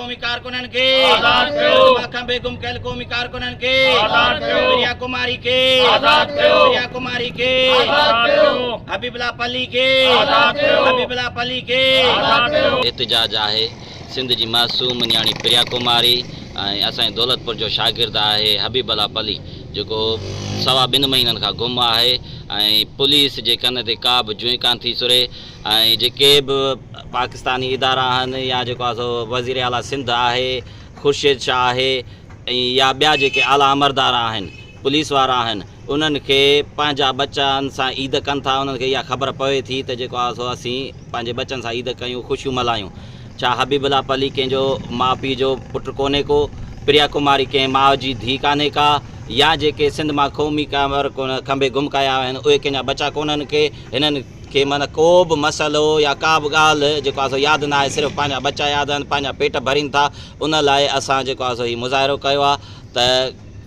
قومي ڪارڪنن کي آزاد ڪيو دماغ کان بي گم ڪيل قومي ڪارڪنن کي آزاد ڪيو پريا ڪماري کي آزاد ڪيو پريا ڪماري کي آزاد ڪيو حبيب الله پلي کي آزاد ڪيو حبيب الله پلي کي آزاد ڪيو. احتجاج آهي سنڌ جي معصوم نياڻي پريا ڪماري ۽ اسان جي دولتپور جو شاگرد آهي حبيب الله پلي جيڪو سوا ٻن مهينن کان گم آهي ۽ پوليس جي ڪن تي ڪا به جونء ڪانه ٿي سري ۽ جيڪي به پاڪستاني ادارا آهن يا جيڪو آهي سو وزير اعليٰ سنڌ آهي خورشيد شاهه آهي ۽ يا ٻيا جيڪي اعليٰ امردار آهن پوليس وارا آهن انهن کي پنهنجا ٻچن سان عيد ڪن ٿا انهن کي اها خبر پوي ٿي ته جيڪو آهي سو اسين پنهنجي ٻچن سان عيد ڪيون خوشيون ملهايون ڇا حبيب الله پلي ڪنهن جو ماء پيء جو پٽ ڪونهي ڪو پريا ڪماري ڪنهن ماء جي ڌي ڪانهي ڪا يا جيڪي سنڌ مان قومي ڪنهن ڪنڀي گم ڪيا ويا آهن اهي ڪنهن جا ٻچا ڪونهن ڪي هنن کي معنيٰ ڪو به مسئلو يا ڪا به ڳالهه جيڪو آهي سو ياد نه آهي صرف پنهنجا ٻچا ياد آهن پنهنجا پيٽ ڀرين ٿا ان لاء اسان جيڪو آهي سو هي مظاهرو ڪيو آهي ته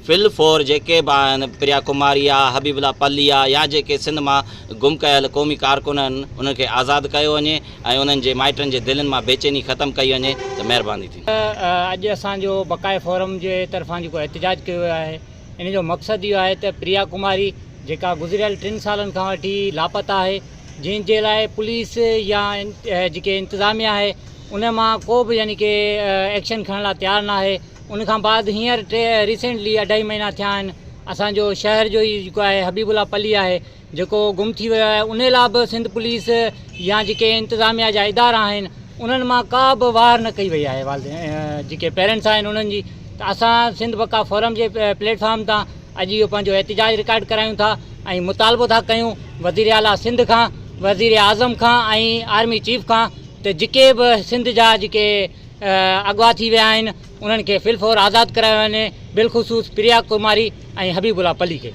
فل فور جيڪي به آهن پريا ڪماري آهي حبيب الله پلي آهي يا جيڪي سنڌ مان گم ڪيل قومي ڪارڪن آهن انهن کي آزاد ڪيو وڃي ۽ انهن جي مائٽن جي دلين مان بيچيني ختم ڪئي وڃي ته مهرباني ٿيندي. اڄ اسان جو بقاء فورم جي طرفان جيڪو احتجاج ڪيو ويو آهي. ان جو مقصد اهو آهي ته پريا ڪماري جيڪا گذريل ٽن سالن کان وٺي لاپتا آهي جنهن جي لاء پوليس يا جيڪي انتظاميه آهي ان مان ڪو به يعني ڪي ايڪشن کڻڻ لاء تيار نه آهي ان کان بعد هينئر ٽي ريسينٽلي اڍائي مهينا ٿيا آهن اسانجو شهر جو ئي جيڪو آهي حبيب الله پلي آهي جيڪو گم ٿي ويو آهي ان لاء به سنڌ پوليس يا جيڪي انتظاميا جا ادارا آهن انهن مان ڪا به واهر نه ڪئي وئي آهي والدين جيڪي پيرنٽس آهن انهن جي ته اسان سنڌ وقا فورم جي پليٽ فارم تان اڄ اهو پنهنجو احتجاج رڪارڊ ڪرايون ٿا ۽ مطالبو ٿا ڪيون وزير اعليٰ سنڌ کان وزير اعظم کان ۽ آرمي چيف کان ته جيڪي به سنڌ جا جيڪي اغوا ٿي ويا آهن انهن کي في الفور آزاد ڪرايو وڃي بالخصوص پريا ڪماري ۽ حبيب الله پلي کي.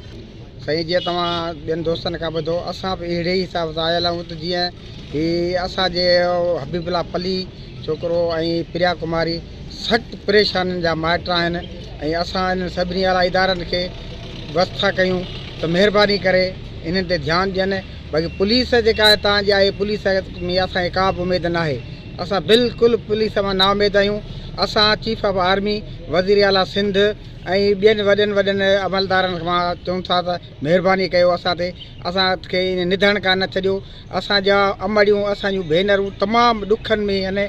سائين جيئن توهان ٻين دوستن کان ٻڌو اسان به اهڙي ئي حساب سان آيل آهيون ته جيئن هي اسان جي حبيب الله پلي ڇوڪرو ۽ پريا ڪماري سخت پريشانين جا مائٽ آهن ۽ اسان انهن سڀني اعليٰ ادارن کي بس ٿا ڪيون ته مهرباني ڪري انهن تي ڌيان ڏين باقي پوليس جيڪا هتان جي آهي پوليس ۾ اسان کي ڪا به اميد ناهي اسان بلڪل پوليس مان نااميد آهيون، اسان چيف آف آرمي، وزيراعليٰ سنڌ ۽ ٻين وڏن وڏن عملدارن کان چون ٿا ته مهرباني ڪيو اسان تي، اسان کي ائين نڌڻ ڪا نه ڇڏيو، اسان جا امڙيون، اسان جون ڀينرون تمام ڏکن ۾ آهن،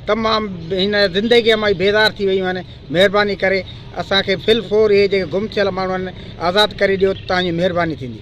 تمام هن زندگيء مان ئي بيزار ٿي ويون آهن، مهرباني ڪري اسان کي في الفور اهي جيڪي گم ٿيل ماڻهو آهن آزاد ڪري ڏيو ته توهان جي مهرباني ٿيندي.